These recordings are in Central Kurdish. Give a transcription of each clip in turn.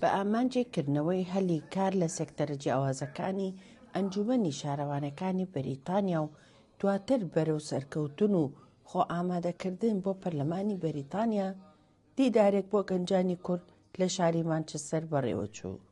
بە ئامانجی کردنەوەی هەلی کار لە سێکتەرە جیاوازەکانی ئەنجومەنی شارەوانەکانی بەریتانیا و دواتر بەرەو سەرکەوتن و خۆ ئامادەکردن بۆ پەرلەمانی بەریتانیا، دیدارێک بۆ گەنجانی کورد لە شاری مانچستەر بەڕێوەچوو.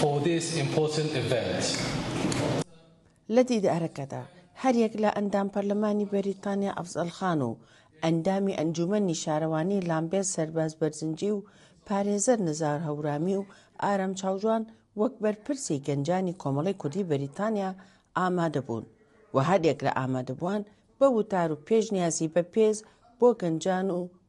for this important event. لە دیدارەکەدا هەریەک لە ئەندام پەرلەمانی بەریتانیا ئەفزەل خان و ئەندامی ئەنجوومەنی شارەوانی لامبێرت سەرباز بەرزنجی و پارێزەر نزار هەورامی و ئارام چاوجوان وەک بەرپرسی گەنجانی کۆمەڵەی کوردی بەریتانیا ئامادەبوون و هەریەک لە ئامادەبووان بە وتار و پێشنیازی بە پێز بۆ گەنجان و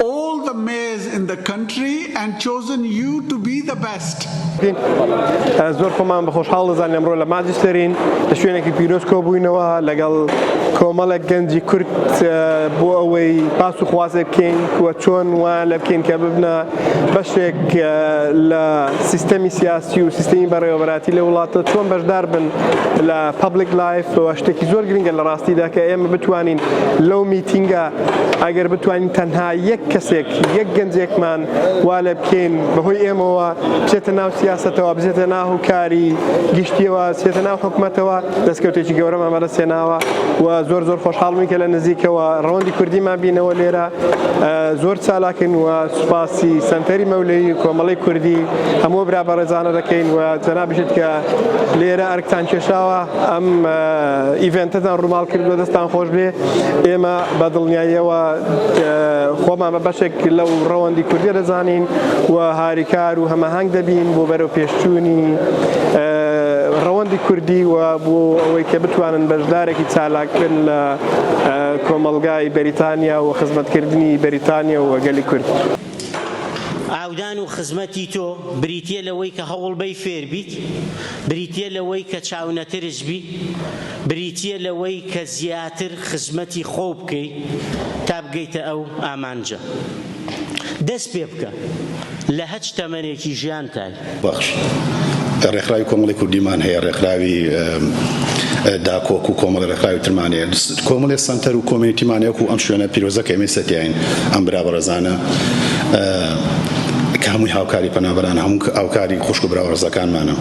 all the mayors in the country and chosen you to be the best. زۆر خۆمان بە خۆشحاڵ دەزان ئەمڕۆ لە ماجستێرین لە شوێنێکی پیرۆز کۆبووینەوە لەگەڵ کۆمەڵێک گەنجی کورد بۆ ئەوەی پاس و خوازێ بکەین وە چۆن وان لە بکەین کە ببنە بەشێک لە سیستەمی سیاسی و سیستمی بەڕێوەبەراتی لە وڵاتە چۆن بەشدار بن لە پبلیک لایف شتێکی زۆر گرنگە لە ڕاستیدا کە ئێمە بتوانین لەو میتینگە ئەگەر بتوانین تەنها یەک کەسێک یەک گەنجێکمان وا لێ بکەین بەهۆی ئێمەوە بچێتە ناو سیاسەتەوە بچێتە ناو کاری گشتیەوە سێتە ناو حکوومەتەوە دەستکەوتێکی گەورەمان بەدەست هێناوە و زۆر زۆر خۆشحاڵمی کە لە نزیکەوە ڕەوەندی کوردیمان بینەوە لێرە زۆر چالاکن و سوپاسی سنتەری مەولەی کۆمەڵی کوردی هەموو برا بەڕێزانە دەکەین و جەنابیشت کە لێرە ئەرکتان کێشاوە ئەم ئیڤێنتەتان ڕووماڵ کردووە دەستان خۆش بێ ئێمە بە دڵنیاییەوە خۆمان بە بەشێک لەو ڕەوەندی کوردی دەزانین و هاریکار و هەمەهنگ دەبین بۆ بەرەو پێشچوونی ڕەوەندی کوردی و بۆ ئەوەی کە بتوانن بەشدارێکی چالاکن لە کۆمەلگای بەریتانیا و خزمەتکردنی بەریتانیا و گەلی کورد. ئاودان و خزمەتی تۆ بریتییە لەوەی کە هەوڵبەی فێربیت، بریتییە لەوەی کە چاونەترس بی، بریتییە لەوەی کە زیاتر خزمەتی خۆو بکەی تا بگەیتە ئەو ئامانجە. دەست پێبکە لە هەچ تەمەنێکی ژیانتای. بەخش ڕێکخراوی کۆمەڵی کوردیمان هەیە ڕێکخراوی داکۆک و کۆمەڵ ڕێکخراوی ترمان هەیە کۆمەڵێ سەنتەر و کۆمیونیتیمان هەیەکو ئەم شوێنە پیرۆزە کە ئێمەی سەتیاین ئەم برا بەڕێزانە کە هەمووی هاوکاری پەنابەران هەموو هاوکاری خوشک و برا ڕزەکانمانە.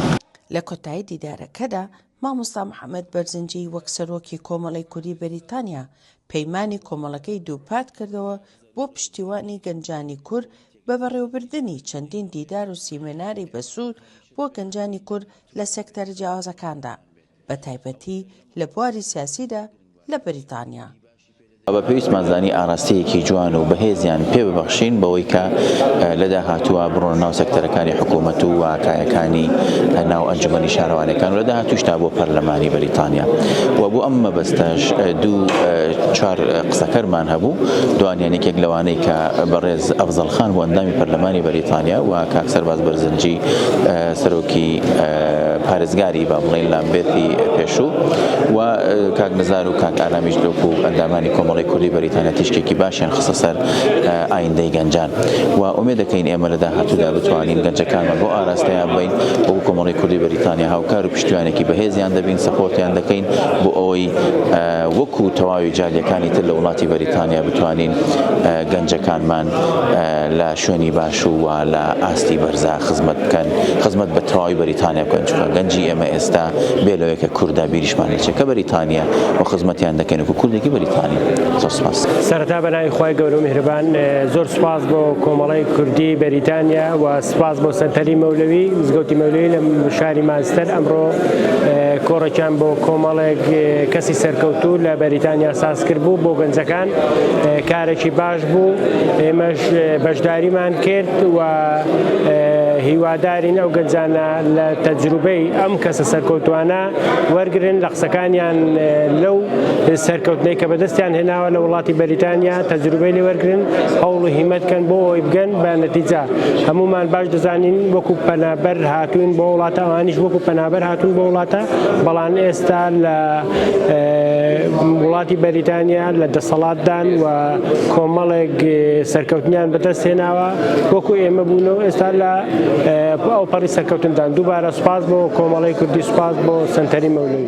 لە کۆتایی دیدارەکەدا مامۆستا محەمەد بەرزنجی وەک سەرۆکی کۆمەڵەی کوردی بەریتانیا پەیمانی کۆمەڵەکەی دووپات کردەوە بۆ پشتیوانی گەنجانی کورد بە بەڕێوەبردنی چەندین دیدار و سیمێناری بەسوود بۆ گەنجانی کورد لە سێکتەرە جیاوازەکاندا بەتایبەتی لە بواری سیاسیدا لە بەریتانیا. ئەوە پێویستمان زانی ئاراستەیەکی جوان و بەهێزیان پێ ببەخشین بەوەی کە لە داهاتووە بڕۆنە ناو سەکتەرەکانی حکوومەت و کایەکانی ناو ئەنجومەنی شارەوانەکان و لە داهاتووش تا بۆ پەرلەمانی بەریتانیا و بۆ ئەم مەبەستەش دوو چوار قسەکەرمان هەبوو دوانیان یەکێک لەوانەی کە بەڕێز ئەفزەڵ خان بۆ ئەندامی پەرلەمانی بەریتانیا و کاک سەرباز بەرزنجی سەرۆکی پارێزگاری با بڵێین لامبێرتی پێشوو و کاک نزار کاک ئارامیش دۆک و ئەندامانی کۆمەڵەی کوردی بەریتانیا تیشکێکی باشیان خستە سەر ئایندەی گەنجان و ئومێد دەکەین ئێمە لە داهاتوودا بتوانین گەنجەکانمان بۆ ئاراستەیان بین وەکو کۆمەڵەی کوردی بەریتانیا هاوکار و پشتیوانێکی بەهێزیان دەبین سەپۆرتیان دەکەین بۆ ئەوەی وەکو تەواوی جالیەکانی تر لە وڵاتی بەریتانیا بتوانین گەنجەکانمان لە شوێنی باش و وا لە ئاستی بەرزا خزمەت بکەن خزمەت بە تەواوی بەریتانیا بکەن چونکە گەنجی ئێمە ئێستا بێ لەوەی کە کوردە بیریش شمانی چەکە بەریتانیا و خزمەتیان دەکەن وەکو کوردێکی بەریتانی زۆر سپاس سەرەتا بەناوی خی گەورە و میهرەبان زۆر سپاس بۆ کۆمەڵی کوردی بەریتانیا و سپاس بۆ سەنتەری مەولەوی زگەوتی مەولەوی لە شاری مانستەر ئەمڕۆ کۆڕێکیان بۆ کۆمەڵێک کەسی سەرکەوتو لە بەریتانیا ساز کرد بوو بۆ گەنجەکان کارێکی باش بوو ئێمەش بەشداریمان کرد و هیوادارین ئەو گەنجانە لە تەجروبەی ئەم کەسە سەرکەوتوانە وەرگرن لە قسەکانیان لەو سەرکەوتنەی کە بەدەستیان هێناوە لە وڵاتی بەریتانیا تەجروبەی لێ وەرگن هەوڵ و هیمەت کەن بۆ ئەوی بگەن بە نەتیجە هەمومان باش دەزانین وەکو پەنابەر هاتوون بۆ وڵاتە ئەوانیش وەکو پەنابەر هاتوون بۆ وڵاتە بەڵام ئێستا لە وڵاتی بەریتانیا لە دەسەڵاتدان و کۆمەڵێک سەرکەوتنیان بەدەست هێناوە وەکو ئێمە بوون و ئێستا لە ئەوپەڕی سەرکەوتندان دووبارە سوپاس بۆ کۆمەڵی کوردی سوپاس بۆ سەنتەری مەولوی.